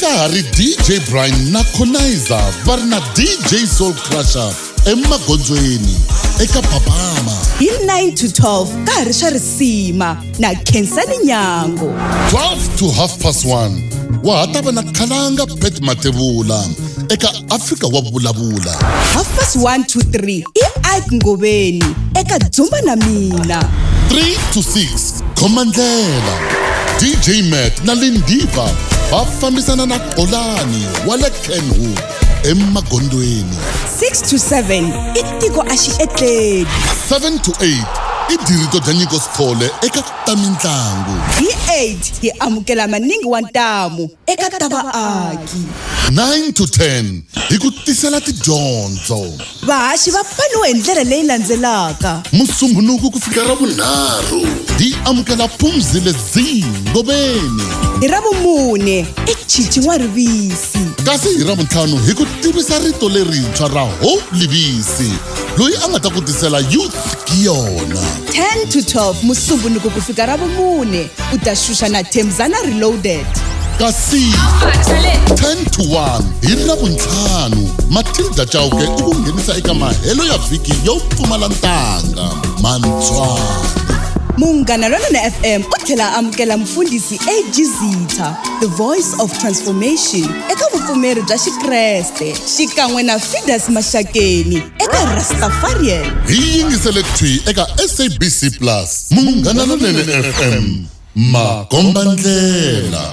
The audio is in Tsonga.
ka ha ri dj brian na conizer va ri na dj soul crusher emagondzweni eka papama hi 9 to 12 ka ha ri swa risima na khensani nyango 12 to half past 1 wa ha ta va na khalanga bet matevula eka afrika wa vulavula half past 1 to 3 i ike ngoveni eka dzumba na mina 3 to 6 Khomandlela, DJ Matt na Lindiva va fambisana na Xolani wa le Kenwood eMagondweni. 6 to 7 i tiko a xi etleli 7 to 8 i dirito bya nyiko sithole eka ta mintlangu. hi 8 hi amukela maningi wa ntamu eka ta vaaki 9 to 10 hi ku tisela tidyondzo. vahaxi va pfaniwe hi ndlela leyi landzelaka musumbunuku ku fika ra vunharhu hi amukela pumzi ledzii ngoveni hi ra vumune i chichi n'wa rivisi kasi hi ra vuntlhanu hi ku tivisa rito lerintshwa ra ho livisi loyi a nga ta ku tisela youth hi yona 10 to 12 musumbunuko ku fika ra vumune u ta xuxa na themzana reloaded kasi 10 to 1 hi ravuntlhanu matilda chauke u ku nghenisa eka mahelo ya vhiki yo pfumala ntanga mantswana munghana lonene fm u tlhela a amukela mufundhisi ag zitha the voice of transformation eka vupfumeri bya xikreste xikan'we na fidas maxakeni eka rastafarian hi yingisele thwi eka sabc plus munghana lonene fm makombandlela